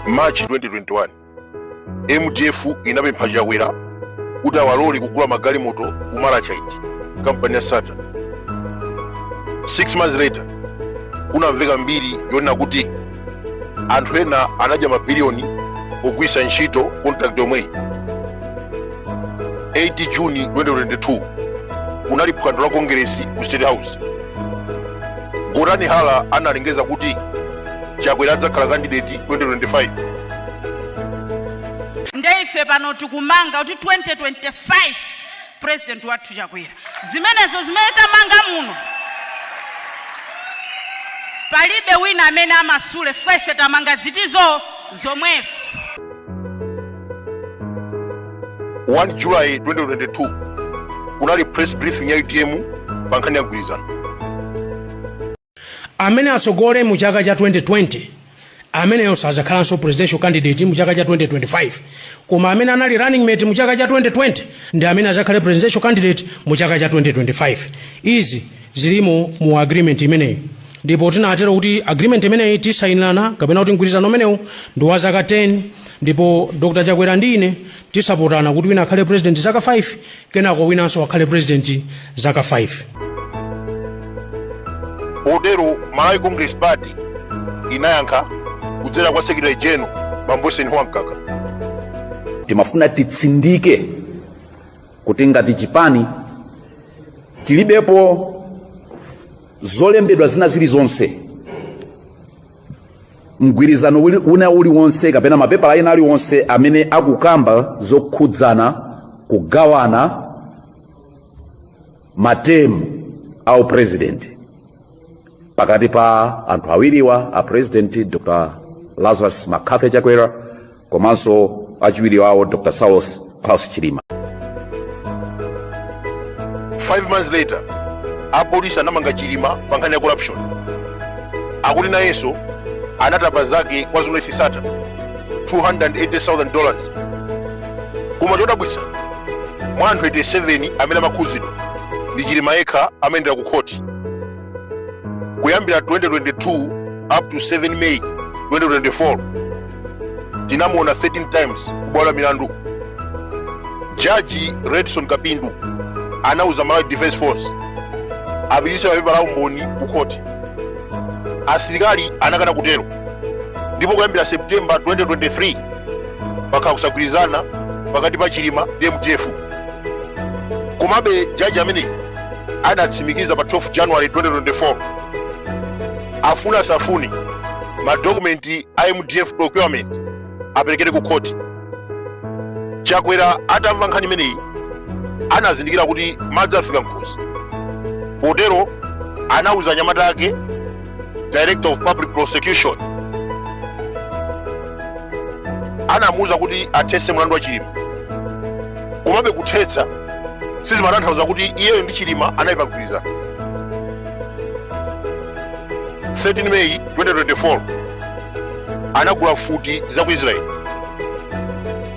March 2021 MDF inapempha Chakwera kuti awalole kugula magalimoto ku Malachite kampani ya Sattar. 6 months later kunamveka mbiri yonena kuti anthu ena anadya mabiliyoni pogwiritsa ntchito contract yomweyi. 8 June 2022 kunali phwando la kongeresi ku State House. Gotani Hara analengeza kuti Chakwera adzakhala kandideti 2025. nde ife pano tikumanga kuti 2025 president wathu chakwera zimenezo zimene tamanga muno palibe wina amene amasule chifukwa ife tamanga zinthuzo zomwezo 1 July 2022 kunali press briefing ya utm pa nkhani ya mgwirizano amene atsogolere mu chaka cha 2020 ameneyo sazakhalanso presidential candidate mu chaka cha 2025 koma amene anali running mate mu chaka cha 2020 ndi amene azakhale presidential candidate mu chaka cha 2025 izi zilimo mu agreement imeneyi ndipo tinatero kuti agreement imeneyi tisainirana kapena kuti mgwirizano umenewu ndi wa zaka 10 ndipo dr chakwera ndi ine tisapotane kuti wina akhale president zaka 5 kenako winanso akhale president zaka 5 potero malawi congress party inayankha kudzera kwa secretary general bambo Eisenhower Mkaka timafuna titsindike kuti ngati chipani tilibepo zolembedwa zina zilizonse mgwirizano wina uliwonse kapena mapepala ena aliwonse amene akukamba zokhudzana kugawana matemu a upresident pakati pa anthu awiriwa a president dr lazarus mccarthy chakwera komanso achiwiri wawo dr saulos klaus chilima five months later apolisi anamanga chilima pa nkhani ya corruption akuti nayenso anatapa zake kwa Zuneth Sattar 280,000 dollars koma chodabwitsa mwa anthu 87 amene amakhuzidwa ndi chilima yekha amayendera ku khoti kuyambira 2022 up to 7 May 2024 tinamuona 13 times kubwalo la milandu jaji redson kapindu anauza malawi defense force apititse mapepala a umboni ku khoti asilikali anakana kutero ndipo kuyambira september 2023 pakhala kusagwirizana pakati pa chilima ndi mdf komabe jaji ameneyi anatsimikiza pa 12 january 2024 afuna asafuni madokumenti a mdf procurement aperekedwe ku khoti chakwera atamva nkhani imeneyi anazindikira kuti madzi afika mkhosi potero anauza anyamata ake director of public prosecution anamuuza kuti athetse mlandu wa chilima komabe kuthetsa sizimatanthauza kuti iyeyo ndi chilima anali pagwirizana 13 meyi 2024 anagula mfuti za ku israeli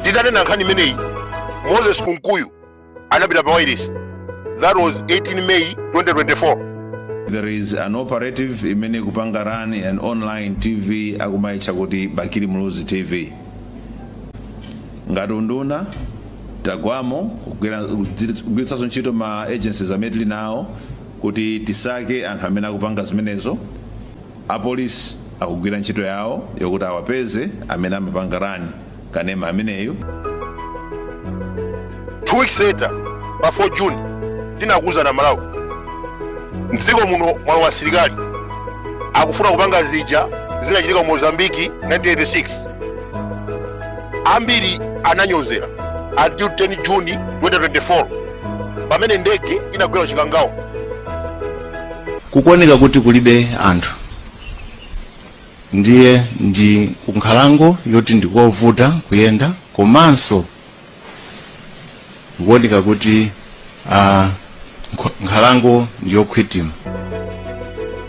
titanena nkhani imeneyi moses kunkuyu anapita pa wailesi that was 18 may 2024 there is an operative imene ikupanga run an online tv akumaitcha kuti bakili muluzi tv ngati unduna tagwamo kugwiritsanso ntchito ma agencies amene tili nawo kuti tisake anthu amene akupanga zimenezo apolisi akugwira ntchito yawo yokuti awapeze amene amapanga rani kanema ameneyu two weeks later pa 4 june tinakuwuzani amalawi mdziko muno mwalowa asilikali akufuna kupanga zija zinachitika mu mozambiki 1986 ambiri ananyozera until 10 june 2024 pamene ndege inagwera ku chikangawa kukuoneka kuti kulibe anthu ndiye ndi kunkhalango yoti ndikovuta kuyenda komanso kukuoneka kuti ah, nkho- nkhalango ndiyokhwitima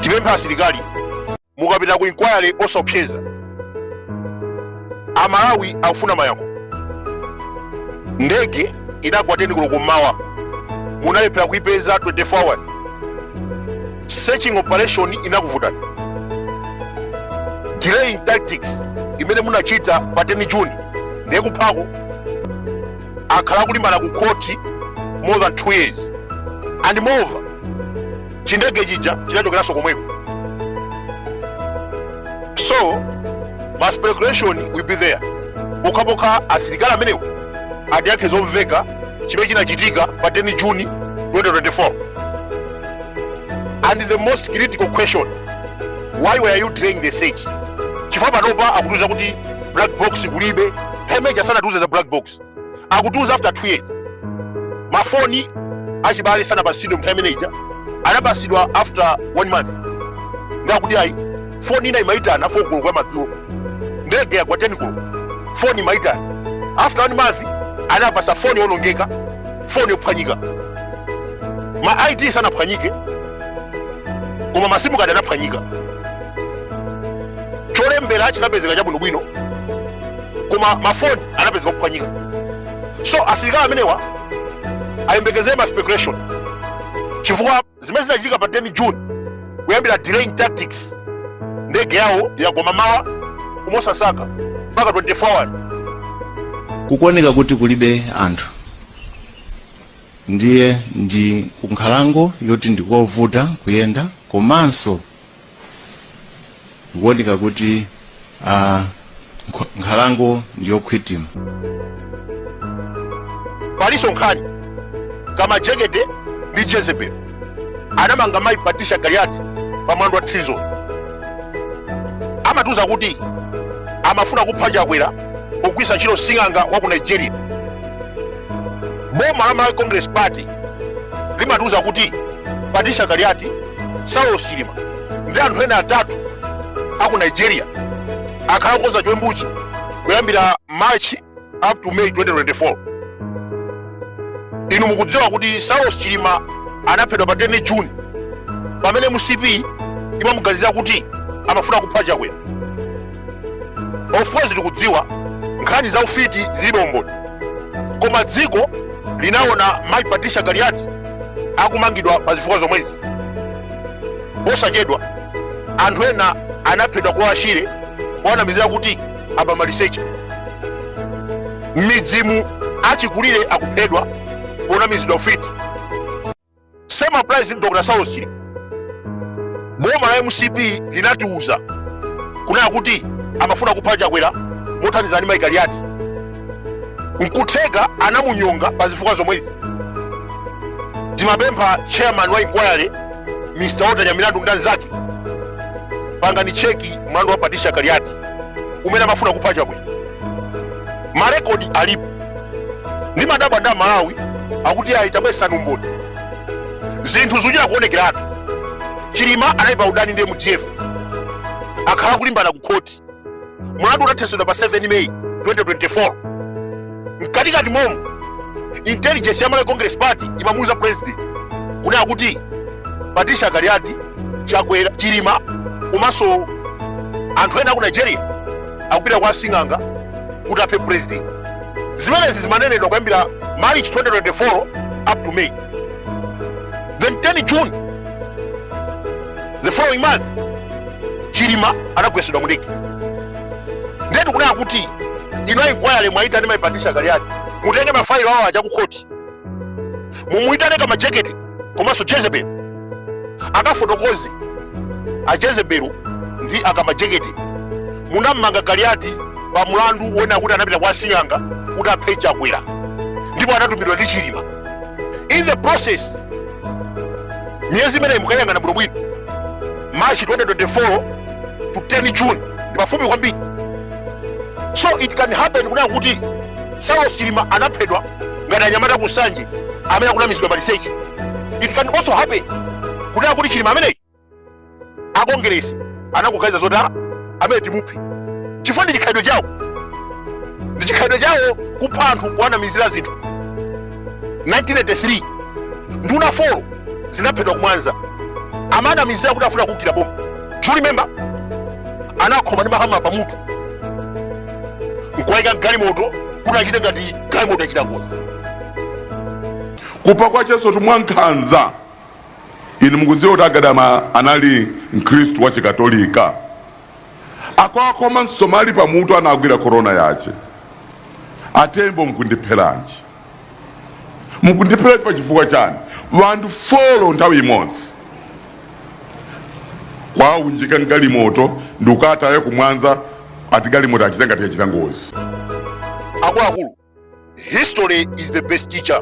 tipempha asilikali mukapita ku inquiry osopseza amalawi akufuna mayankho ndege inagwa 10 koloko mmawa munalephera kuipeza 24 hours searching operation inakuvutani delaying tactics imene munachita pa 10 june ndiye kuphako akhala akulimbana ku khoti more than 2 years and moreover chindege chija chinachokeranso komweko so ma speculation will be there pokhapokha asilikali amenewo atiyankhe zomveka chimene chinachitika pa 10 juni 2024 and the most critical question why were you delaying the search chifukwa panopa akutiuza kuti black box kulibe paja sanatiuze za black box akutiuza after 2 years mafoni achibale sanapatsidwe nthawi imene ija anapatsidwa after one month ndakuti ayi foni ina imaitana fo koloko yamadzulo ndege yagwa 10 koloko foni imaitana after one month anapatsa foni yonongeka foni yophwanyika ma id sanaphwanyike koma masimu kadi anaphwanyika cholembera chinapezeka chabwinobwino koma mafoni anapezeka kuphwanyika so asilikali amenewa ayembekezere ma speculation chifukwa zimene zinachitika pa 10 june kuyambira delaying tactics ndege yawo yagwa mawa kumosasaka mpaka 24 hours kukuoneka kuti kulibe anthu ndiye ndi kunkhalango yoti ndikovuta kuyenda komanso kukuoneka kuti nkhalango ndiyokhwitima palinso nkhani ya kamajekede ndi jezebel anamanga mayi patricia kaliati pa mlandu wa treason amatiuza kuti amafuna kupha chakwera pogwiritsa ntchito sing'anga wa ku nigeria boma la malawi congress party limatiuza kuti patricia kaliati saulos chilima ndi anthu ena atatu aku nigeria akhala akukonza chiwembuchi kuyambira march up to may 2024 inu mukudziwa kuti saulos chilima anaphedwa pa 10 june pamene mcp imamuganizira kuti amafuna kupha chakwera of course tikudziwa nkhani za ufiti zilibe umboni koma dziko linaona mai patricia kaliati akumangidwa pa zifukwa zomwezi posachedwa anthu ena anaphedwa ku lower shire powanamizira kuti aba maliseche m'midzimu achikulire akuphedwa ponamizidwa ufiti same applies to Dr. Saulos Chilima boma la mcp linatiuza kunena kuti amafuna kupha chakwera mothandizana ndi mai kaliati nkutheka anamunyonga pa zifukwa zomwezi timapempha chairman wa inquiry mr walter nyamilandu ndi anzake pangani cheki mlandu wa patricia kaliati umene amafuna kupha chakwera marekodi alipo ndimadabwa ndi amalawi akuti ayi tabweretsani umboni zinthu zikuchita kuonekeratu chilima anali pa udani ndi mdf akhala akulimbana ku khoti mlandu unathetsedwa pa 7 meyi 2024 mkatikati momo intelligence ya malawi congress party imamuuza president kunena kuti patricia kaliati chakwera chilima komanso anthu ena aku nigeria akupita kwa sing'anga kuti aphe president zimenezi zimanenedwa kuyambira march 2024 up to may then 10 june the following month chilima anagwesedwa mundege ndetu kunena kuti ino inquiry mwaita ndi mai Patricia Kaliati mutenge mafailo awo aja ku khoti mumuyitane Kamajeketi komanso jezebeli akafotokoze a jezebeli ndi akamajeketi munammanga Kaliati pa mlandu wonena kuti anapita kwa sing'anga kuti aphe chakwera ndipo anatumidwa ndi chilima in the process miyezi imeneyi mukayang'ana bwinobwino march 2024 to 10 june ndi pafupi kwambiri so it can happen kunena kuti saulos chilima anaphedwa ngati anyamata ku nsanje amene akunamizidwa maliseche it can also happen kunena kuti chilima ameneyi akongeresi anakuganiza zoti ah amene timuphe chifukwa ndi chikhalidwe chawo ndi chikhalidwe chawo kupha anthu kuwanamizira zinthu 1983 nduna 4 zinaphedwa ku Mwanza amanamizira kuti afuna kugwira boma you remember anakhoma ndi mahama pamutu nkuwaika mgalimoto kuti achite ngati galimoto yachita ngozi kupha kwa nkhanza kwambiri inu mukudziwa kuti a Gadama anali mkhristu wa chikatolika akwakoma msomali pamutu anagwira korona yake a Tembo mukundipheranji mukundipheranji pa chifukwa chani wanthu folo nthawi imodzi kuwaunjika mgalimoto ndikukataya ku Mwanza ati galimoto achita ngati yachita ngozi akuluakulu history is the best teacher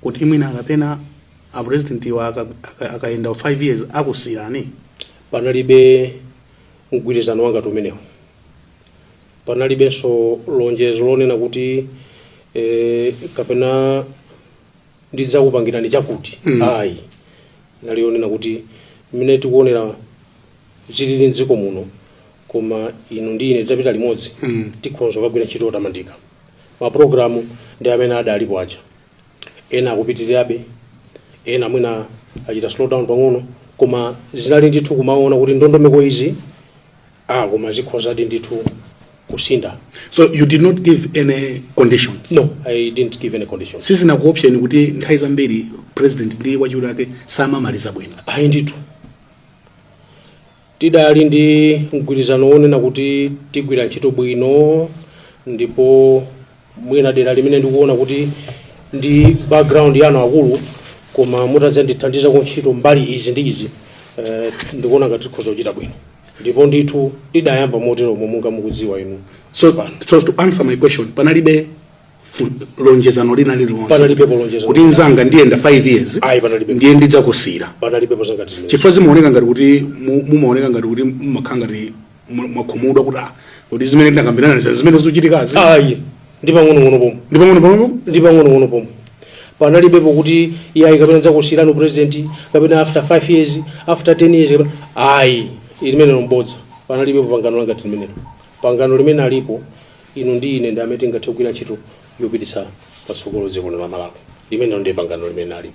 kuti mwina kapena a president iwo aka- aka- akayenda 5 years akusiyirani panalibe mgwirizano wangati umenewo panalibenso lonjezo lonena kuti eh, kapena ndidzakupangirani chakuti Mm. ayi inali yonena kuti mmene tikuonera zilili mdziko muno koma inu ndi ine titapita limodzi Mm. tikhonza kukagwira ntchito yotamandika mapulogalamu amene adalipo aja ena akupitirirabe ena mwina achita slow down pang'ono koma zinali ndithu kumaona kuti ndondomeko izi Ah, koma zikhozadi ndithu kusintha. so you did not give any condition No, I didn't give any conditions. sizinakuopseni kuti nthawi zambiri president ndi wachiwiri wake samamaliza bwino Ayi ndithu. Tidali ndi mgwirizano wonena kuti tigwira ntchito bwino ndipo mwina dera limene ndikuona kuti ndi background yanu akuluakulu koma mutadzandithandizako ntchito mbali izi ndi izi eh, ndikuona ngati tikhoza kuchita bwino ndipo ndithu tidayamba moteromo monga mukudziwa inu so, so to answer my question panalibe fu- lonjezano lina lililonse Panalibe lonjezano. kuti nzanga ndiyenda 5 years Ayi, panalibe. ndiye ndidzakusiyira panalibepo zangati zimenezo chifukwa zimaoneka ngati kuti mu- mumaoneka ngati kuti mumakhala ngati mwa- mwakhumudwa kuti ah, kuti zimene tinakambirana si zimene zochitikazi ayi ndi pang'ono pomwe ndi pang'ono pomwe panalibepo kuti iyayi kapena ndidzakusiyirani upresident kapena after 5 years after 10 years kapena ayi limenelo m'bodza panalibepo pangano langati limenelo pangano limene alipo inu ndi ine ndi amene tingathe kugwira ntchito yopititsa patsogolo dziko lino la malawi limenelo ndiye pangano limene alipo